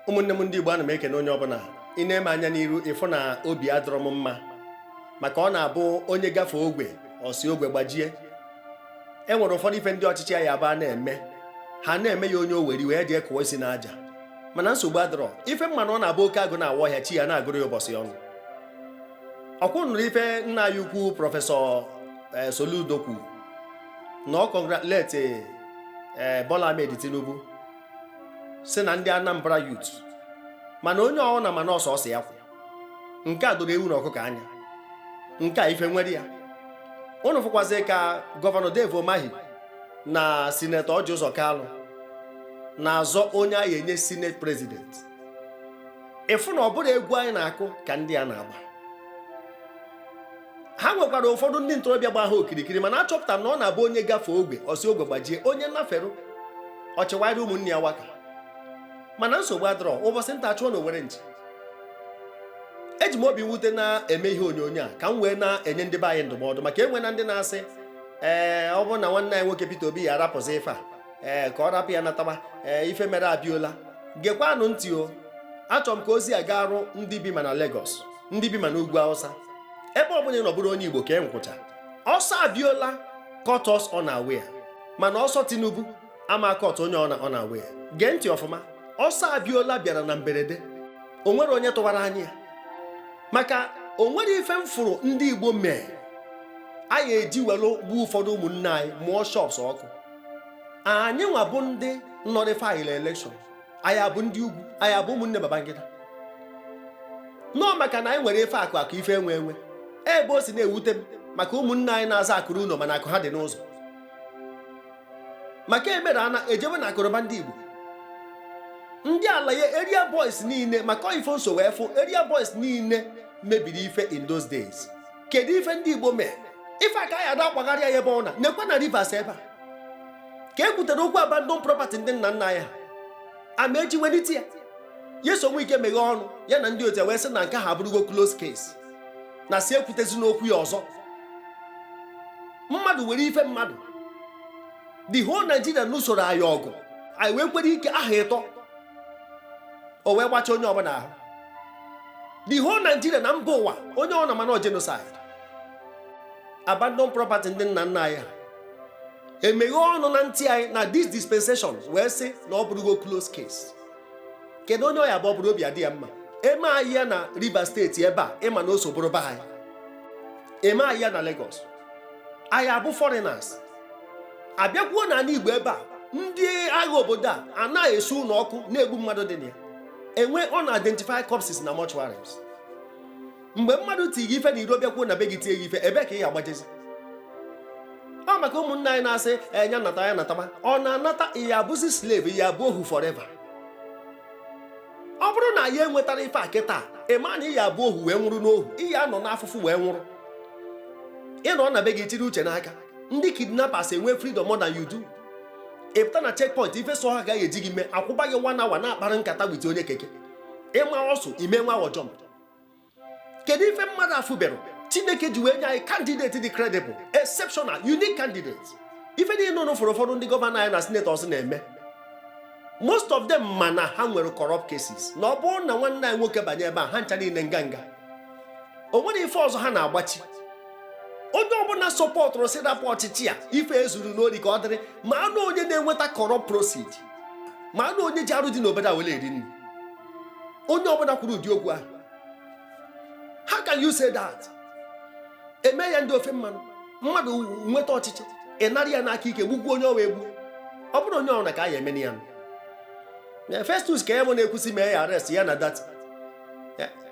ụmụnne m ndị Igbo ana m ekene onye ọbụla i nee m anya n'iru ị fụ na obi adọrọ m mma maka ọ na-abụ onye gafee ogwe ọ sị ogwe gbajie e nwere ụfọdụ ife ndị ọchịchị anyị ugbu a na-eme ha na-eme ya onye o were iwe dị ekụwa isi n'aja mana nsogbu adọrọ ife m ma na ọ na-abụ oke agụ na-awa ọhịa chi ya ana-agụrụ ya ụbọsị ọnwụ ọ kwa ụnụ nụrụ ife nna anyị ukwu prọfesọ eh, Soludo kwuru na ọ congratulate eh, Bola Ahmed Tinubu sị na ndị Anambra youth mana onye ọwụna ma na ọ sọsọ ya kwụ nke a doro ewu na ọkụkọ anya nke a ife nwere ya ụnụ fụkwazi ka gọvanọ Dave Umahi na sinetọ Orji Uzor Kalu na-azọ onye a ya-enye senate president ị fụ na ọ bụrọ egwu anyị na-akụ ka ndị a na-agba ha nwekwara ụfọdụ ndị ntorobịa gba ha okirikiri mana achọpụta na ọ na-abụ onye gafee ogwe ọ sị ogwe gbajie onye nnaferụ ọchịwarị ụmụnne ya aka mana nsogbu adọrọ ụbọsị nta a chụọ n'owere nchi eji m obi mwute na-eme ihe onyonyo a ka m wee na-enye ndị be anyị ndụmọdụ maka e nwena ndị na-asị ee ọ bụrụ na nwanne anyị nwoke Peter Obi ya arapụzi ife a ee ka ọ rapụ ya nataba ee ife mere Abiola gekwanụ ntị o achọrọ m ka ozi a gaa ruo ndị bi ma na Lagos ndị bi ma n'ugwu Hausa ebe ọbụla ị nọ bụrụ onye Igbo kee nkwụcha ọsọ Abiola caught us unaware mana ọsọ Tinubu ama caught onye ọna unaware gee ntị ọfụma ọsọ Abiola bịara na mberede o nwerọ onye tụwara anya maka o nwerọ ife m fụrụ ndị Igbo mee a ya-eji were gbuo ụfọdụ ụmụnne anyị mụọ shops ọkụ anyị nwa bụ ndị nullify election anyị abụ ndị ugwu anyị abụ ụmụnne Babangida no maka na anyị nwere ife akụ akụ ife enwe enwe ebe o si na-ewute m maka ụmụnne anyị na-aza akụ ruo ụnọ mana akụ ha dị n'ụzọ maka emere ana ejebe n'akụnụba ndị Igbo ndị alaye area boys niile maka ọ ife m so wee fụ area boys niile mebiri ife in those days kedu ife ndị Igbo mee ife aka ya ada akwagharịa ya ebe ọna nekwa na Rivers ebe a ka e kwutere okwu abandon property ndị nna nna anyị ha ama eji welite ya Nyesom Wike meghee ọnụ ya na ndị otu ya wee sị na nke ha abụrụgo close case na asị ekwutezina okwu ya ọzọ mmadụ were ife mmadụ the whole Nigeria nụsoro anyị ọgụ anyị wee kwere ike ahọ ịtọ o wee gbacha onye ọbụla ahụ the whole Nigeria na mba ụwa onye ọna ma na ọ genocide abandon property ndị nna nna anyị emeghe ọnụ na ntị anyị na this dispensation wee sị na ọ bụrụgo close case kedu onye ọ ya-abụ ọ bụrụ obi adị ya mma eme anyị ya na Rivers steeti ebe a ị ma na o so bụrụ be anyị eme anyị ya na Lagos anyị abụ foreigners abịakwuo na anị Igbo ebe a ndị agha obodo a ana-esu ụnọ ọkụ na-egbu mmadụ dị na ya enwe ọ na-identify corpses na mortuaries mgbe mmadụ tie gị ife n'iro bịakwuo na be gị tie gị ife ebe ka ị ya-agbajezi ọ maka ụmụnna anyị na-asị enya nata ya natama ọ na-anata ị ya-abụzi slave ị ya-abụ ohu forever ọ bụrụ na anyị enwetarọ ife a kịta ị ma na ị ya-abụ ohu wee nwụrụ n'ohu ị ya-anọ n'afụfụ wee nwụrụ ị nọ na be gị chịrị uche n'aka ndị kidnappers enwe freedom more than you do ị pụta na checkpoint ife sọ ha ka e ji gị mee akwụba gị one hour na-akpara nkata with onye keke ị maa ọsụ ị mee nwa jump kedu ife mmadụ afụberọ chineke ji wee nye anyị kandideti dị credible exceptional unique candidate ife niile unu fụrụ ụfọdụ ndị gọvanọ anyị na senetọs na-eme most of them ma na ha nwere corrupt cases na ọ bụrụ na nwanne anyị nwoke banye ebe a ha ncha niile nga nga o nwere ife ọzọ ha na-agbachi onye ọbụna sọpọtụrụ sị rapụ ọchịchị a ife e zuru n'ori ka ọ dịrị ma anụ onye na-enweta corrupt proceed ma anụ onye ji arụ dị n'obodo a were eri nri onye ọbụna kwuru ụdị okwu ahụ how can you say that eme ya ndị ofe mmanụ mmadụ nweta ọchịchị ị nara ya n'aka ike gbukwuo onye ọwa egbu ọ bụrụ onye ọbụna ka a ya-eme ya na Festus Keyamo na-ekwu sị mee ya arrest ya na Datti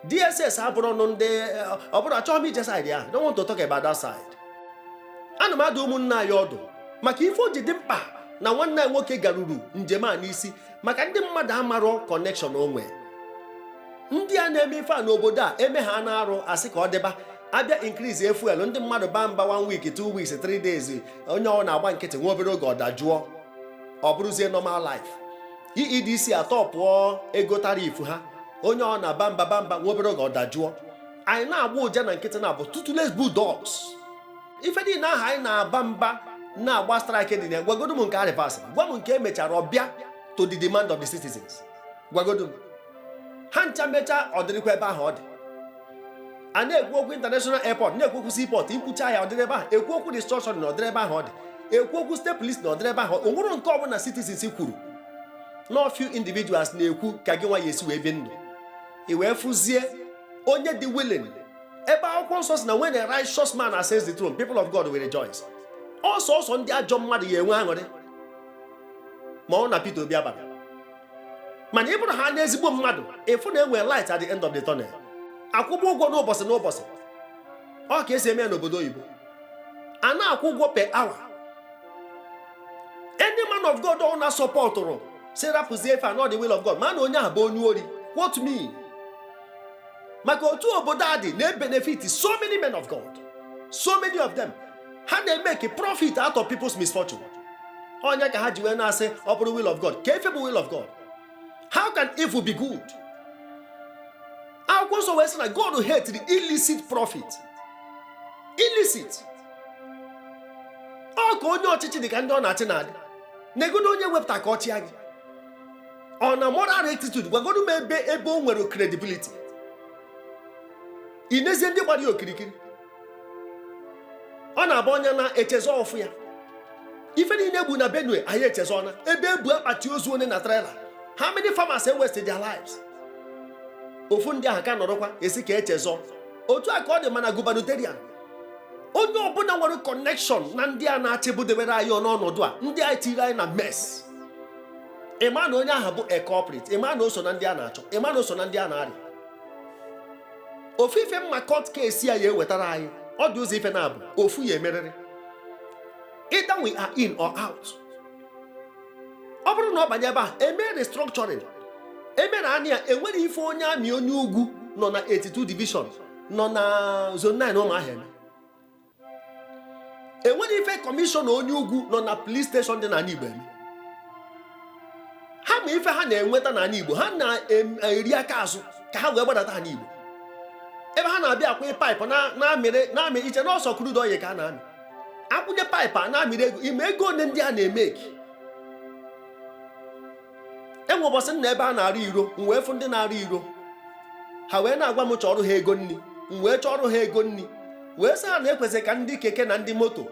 DSS abụrụ ọnụ ndị ọ bụrụ achọghị m ije saịdị ahụ don't want to talk about that side ana m adụ ụmụnna anyị ọdụ maka ife o ji dị mkpa na nwanne anyị nwoke garuru njem a n'isi maka ndị mmadụ amarọ kọnekshọn onwe ndị a na-eme ife a n'obodo a eme ha na-arụ a sị ka ọ dịba a bịa inkriizie fuel ndị mmadụ baa mba one week two weeks three days onye ọbụna agba nkịtị nwa obere oge ọ dajụọ ọ bụrụzie normal life EEDC atọpụọ ego tariff ha onye ọbụna abaa mba baa mba nwa obere oge ọ dajụọ anyị na-agba ụja na nkịtị na-abụ toothless ife niile ahụ anyị na-aba mba na-agba strike dị na gwagodo m nke a rivasị gwa m nke e mechara bịa to the demand of the citizens gwagodo m ha ncha mecha ọ dịrịkwa ebe ahụ ọ dị a na-ekwu okwu international airport na-ekwu okwu seaport i kwuchaa ya ọ dịrị ebe ahụ ekwu okwu restructuring na ọ dịrị ebe ahụ ọ dị ekwu okwu state police na ọ dịrị ebe ahụ o nwerọ nke ọbụna citizens kwuru na few individuals na-ekwu ka gị nwa ya-esi wee bi ndụ i wee fụzie onye dị willing ebe akwụkwọ nsọ si na when a righteous man ascends the throne people of God will rejoice ọ sọọsọ ndị ajọ mmadụ ya enwe aṅụrị ma ọ bụ na Peter Obi abara mana ị bụrụ haana ezigbo mmadụ ị fụ na enwe light at the end of the tunnel a kwụba ụgwọ n'ụbọsị n'ụbọsị ọ ka esi eme ya n'obodo oyibo a na-akwụ ụgwọ per hour any man of God ọbụna sọpọtụrụ sị rapụzie ife a na ọ the will of God ma na onye ahụ bụ onye ori quote me maka otu obodo a dị na-ebenefit so many men of God so many of them ha na-emake profit out of people's misfortune ọ ya ka ha ji wee na-asị ọ bụrụ will of God kee ife bụ will of God how can evil be good akwụkwọ nsọ wee sị na God hetiri illicit profit illicit ọ ka onye ọchịchị dị ka ndị ọ na-achị na-adị negodu onye wepụta ka ọ chịa gị ọ na moral rectitude gwagonu m ebe ebe o nwere credibility ị nezie ndị gbara ya okirikiri ọ na-abụ onye na-echezọ ọfụ ya ife niile egbu na benue anyị echezọna ebe ebu akpati ozu one na trailer how many farmers e waste their lives ofu ndị ahụ ka nọrọkwa a sị ka echezọ otu a ka ọ dị mana gubernatorial onye ọbụna nwere connection na ndị a na-achị budebere anyị n'ọnọdụ a ndị a nị tiri anyị na mess ịma na onye ahụ bụ a culprit ịma na o so na ndị a na-achọ ịma na o so na ndị a na-arịa ofu ife m ma court case a ya ewetara anyị ọ dị ụzọ ife naabọ ofu ya emerịrị either we are in or out ọ bụrụ na ọ banye ebe a eme restructuring emere anị ya enwerọ ife onye army onye ugwu nọ na 82 division nọ na zone 9 Ụmụahịa enwerọ ife commissioner onye ugwu nọ na police station dị n'ani Igbo eme ha ma ife ha na-enweta n'ani Igbo ha na-eri aka azụ ka ha wee gbadata ha n'Igbo ebe ha na-abịa akwụnye pipe na-amị i che na ọ sọ crude oil ka a na-amị akwụnye pipe a na-amịrị ego ị ma ego one ndị a na-emake enwe ụbọsị m nọ ebe a na-arụ iro m wee fụ ndị na-arụ iro ha wee na-agwa m chọrọ ha ego nni m wee chọrọ ha ego nni wee sị ha na ekwesịrị ka ndị keke na ndị moto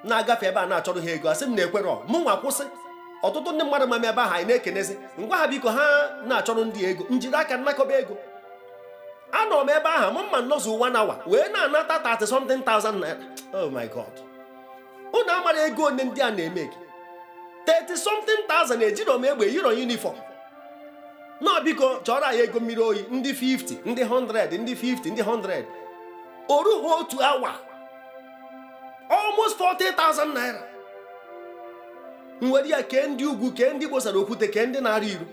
na-agafe ebe a na-achọrọ ha ego asị m na ekwerọ mụ nwa kwụsị ọtụtụ ndị mmadụ ma m ebe ahụ anyị na-ekenezi m gwa ha biko ha na-achọrọ ndị ego m jiri aka m nakọba ego anọ m ebe ahụ m mma m nọzu one hour wee na-anata 30 something thousand naira oh my god unu amara ego one ndị a na-emeki 30 something thousand ejiro m egbe yiro uniform na biko chọọrọ anyị ego mmiri oyi ndị 50 ndị 100 ndị 50 ndị 100 o ruo ha otu awa almost 40,000 naira nwere ya kee ndị ugwu kee ndị gbosara okwute kee ndị na-arị iru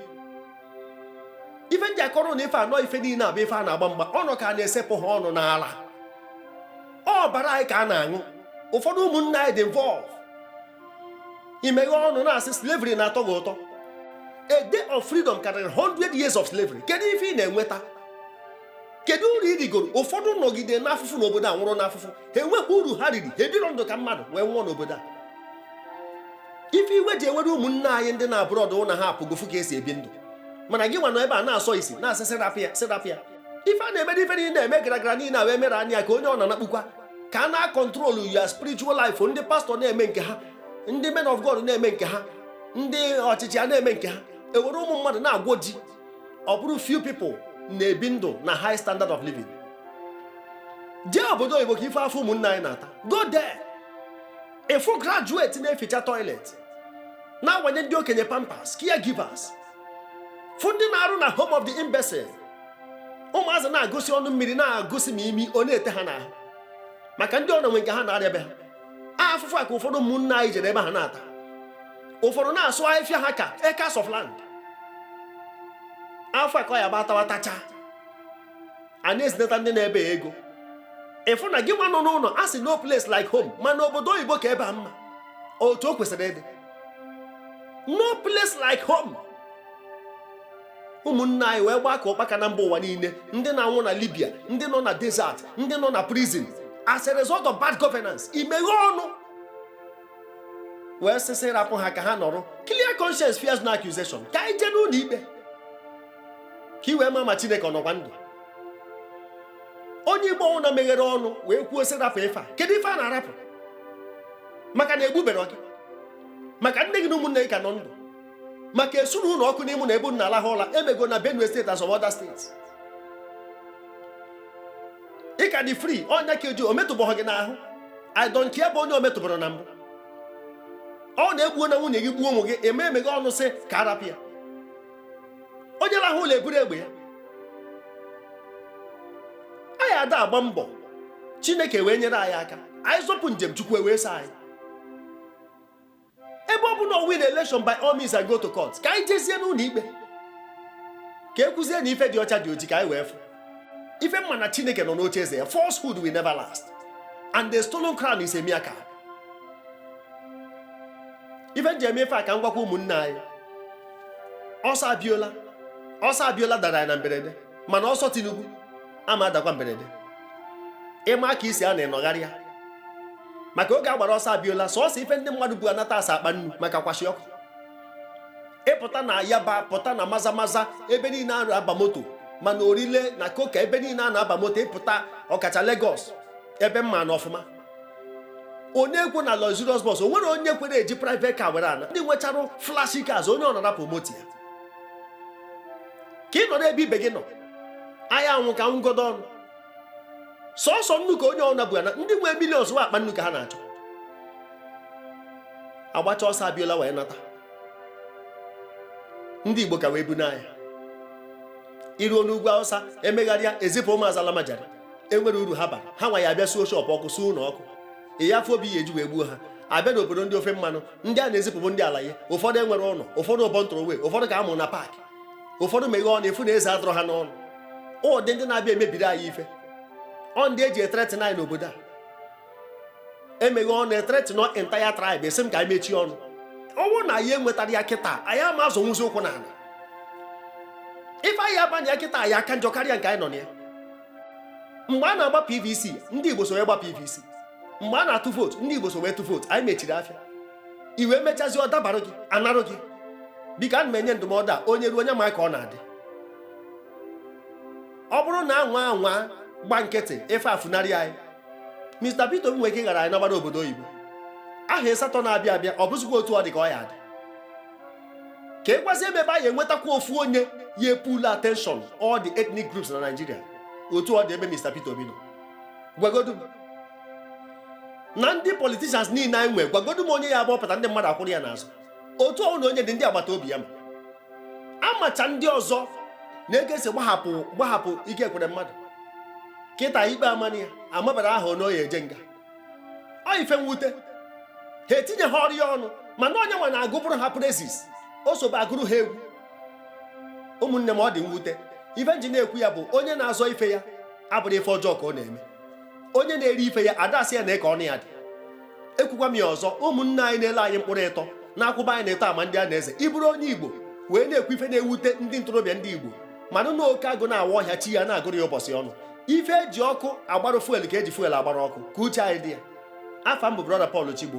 ife ndị akọrọ na ife anọ ife niile abụ ife a na-agba mgba ọnụ ka a na-esepụ ha ọnụ n'ala ọbara anyị ka a na-aṅụ ụfọdụ ụmụnna anyị dị involved i meghe ọnụ na-asị slavery na-atọ gị ụtọ a day of freedom karịrị 100 years of slavery kedu ife ị na-enweta kedu uru ị rigoro ụfọdụ nọgide n'afụfụ n'obodo a nwụrụ n'afụfụ ha enwekwa uru ha riri ha ebiro ndụ ka mmadụ wee nwụọ n'obodo a ife iwe ji ewere ụmụnne anyị ndị nọ abroad na ha apụgo fụ ka esi ebi ndụ mana gị nwa nọ ebe a na-asọ isi na-asị sị rapụ ya sị rapụ ya ife a na-eme n'ife niile na-eme gara gara niile wee mere anya ka onye ọ na-anakpukwa ka a na-akọntrolu ya spiritual life ndị pastọ na-eme nke ha ndị men of God na-eme nke ha ndị ọchịchị a na-eme nke ha ewere ụmụ mmadụ na-agwọ ji ọ bụrụ few people na-ebi ndụ na high standard of living jee obodo oyibo ka ị fụ afụfụ ụmụnne anyị na-ata go there ị fụ graduate na-eficha toilet na-awanye ndị okenye pampers caregivers fụ ndị na-arụ na home of the imbecile ụmụazị na-agụsi ọnụ mmiri na-agụsi ma imi ọ na-ete ha n'ahụ maka ndị ọnọ nwe nke ha na-arịa be ha afụfụ a ka ụfọdụ ụmụnna anyị jere ebe ha na-ata ụfọdụ na-asụ ahịfịa ha ka acres of land a fụ aka ya gba tawa tacha a na-ezinata ndị nọ ebe ego ịfụ na gị nwa nọ n'ụlọ a sị no place like home mana obodo oyibo ka ebe a mma otu o kwesịrị ịdị no place like home ụmụnne anyị wee gbaa ka ụkpaka na mba ụwa niile ndị na-anwụ na Libya ndị nọ na desert ndị nọ na prison as a result of bad governance i meghe ọnụ wee sị sị rapụ ha ka ha nọrọ clear conscience fears no accusation ka anyị jee n'ụlọ ikpe ka i wee ma ma chineke ọ nọkwa ndụ onye igbo ọwụna meghere ọnụ wee kwuo sị rapụ ife a kedu ife a na-arapụ maka na egbubero gị maka nne gị na ụmụnne gị ka nọ ndụ maka esuru ụlọ ọkụ n'imo na-egbu ndị na-alahụ ụla emego na benue steeti as other states ị ka dị fri ọ nya ka eji o metụbeghị gị n'ahụ i don't care bụ onye o metụbero na mbụ ọ na-egbuo na nwunye gị gbuo ụmụ gị ị ma emeghe ọnụ sị ka a rapụ ya onye rahụ ụla eburu egbe ya anyị ada agba mbọ chineke wee nyere anyị aka anyị zọpụ njem chukwu e wee saa anyị ebe ọ bụ na win election by all means and go to court ka anyị jezie n'ụlọ ikpe ka e kwuzie na ife dị ọcha dị oji ka anyị wee fụ ife m ma na chineke nọ n'oche eze ya falsehood will never last and the stolen crown is a mere cap ife m ji eme ife a ka m gwakwa ụmụnne anyị ọsọ Abiola ọsọ Abiola dara na mberede mana ọsọ tinubu ama adakwa mberede ị ma ka isi a na-enọgharị ya maka oge a gbara ọsọ Abiola sọọsọ ife ndị mmadụ bu anata sọ akpa nnu maka kwashiorkor ị pụta na yaba pụta na maza maza ebe niile a na-aba moto ma na Orile na Coker ebe niile a na-aba moto ị pụta ọkacha Lagos ebe m ma na ọfụma onye ekwe na luxurious bus onwere onye kwere eji private car were ana ndị nwechara flashy cars onye ọna arapụ moto ya ka ị nọ n'ebe ibe gị nọ a ya anwụ ka a nwụgodu ọnụ sọsọ nnu ka onye ọna bu ana ndị nwee millions ọ akpa nnu ka ha na-achọ agbacha ọsọ Abiola wee nata ndị Igbo ka wee bu n'anya i ruo n'ugwu Hausa emegharịa ezipụ ụmụazị almajiri enwerọ uru ha bara ha nwa ya abịa suo shọpụ ọkụ suo ụlọ ọkụ ị ya afụ obi ya eji wee gbuo ha abịa n'obodo ndị ofe mmanụ ndị a na-ezipụ bụ ndị alaye ụfọdụ enwerọ ụlọ ụfọdụ born throway ụfọdụ ka a mụ na park ụfọdụ meghe ọnụ ị fụ na eze adịrọ ha n'ọnụ ụdị ndị na-abịa emebiri anyị ife ọ ndị eji ethreaten anyị n'obodo a emeghe ọnụ ethreaten an entire tribe ị sị m ka anyị mechie ọnụ ọ bụrụ na anyị enwetarọ ya kịta anyị ama azọnwuzi ụkwụ na ala ife anyị abanye ya kịta ya aka njọ karịa nke anyị nọ na ya mgbe a na-agba pvc ndị igbo so wee gba pvc mgbe a na-atụ vootu ndị igbo so wee tụ vootu anyị mechiri afịa e wee mechazie ọ dabara gị anarụ gị biko ana m enye ndụmọdụ a onye ruo onye ma ka ọ na-adị ọ bụrụ na anyị nwa gba nkịtị ife afunarị anyị Mr. Peter Obi nwere ike ịghara anyị nabara obodo oyibo aha ịsatọ na-abịa abịa ọ bụzikwa otu ọ dị ka ọ ya adị ka ị gwazie m ebe anyị enwetakwa ofu onye ya epull attention all the ethnic groups na Nigeria otu ọ dị ebe Mr. Peter Obi nọ gwagodu m na ndị politicians niile anyị nwee gwagodu m onye ya abụ ọ pụta ndị mmadụ akwụrụ ya n'azụ otu ọ wụ na onye dị ndị agbata obi ya mma amacha ndị ọzọ na ego a sị gbahapụ gbahapụ ike ekwere mmadụ kịta ikpe amanụ ya amabara ha ọnụ ọ ya eje nga ọ ife mwute ha etinye ha ọrịa ọnụ mana onye nwa na-agụbụrụ ha praises o sobe agụrụ ha egwu ụmụnne m ọ dị mwute ife m ji na-ekwu ya bụ onye na-azọ ife ya abụrụ ife ọjọọ ka ọ na-eme onye na-eri ife ya adasị ya n'aka ọnụ ya dị ekwukwa m ya ọzọ ụmụnne anyị na-ele anyị mkpụrụ ịtọ na-akwụba anyị n'ịtọ ama ndị a na-eze ị bụrụ onye igbo wee na-ekwu ife na-ewute ndị ntorobịa ndị igbo mara na oke agụ na-awa ọhịa chi ya na-agụrụ ya ụbọsị ọnụ ife eji ọkụ agbara fuel ka eji fuel agbara ọkụ ka uche anyị dị ya afa m bụ brọda Paul Chigbo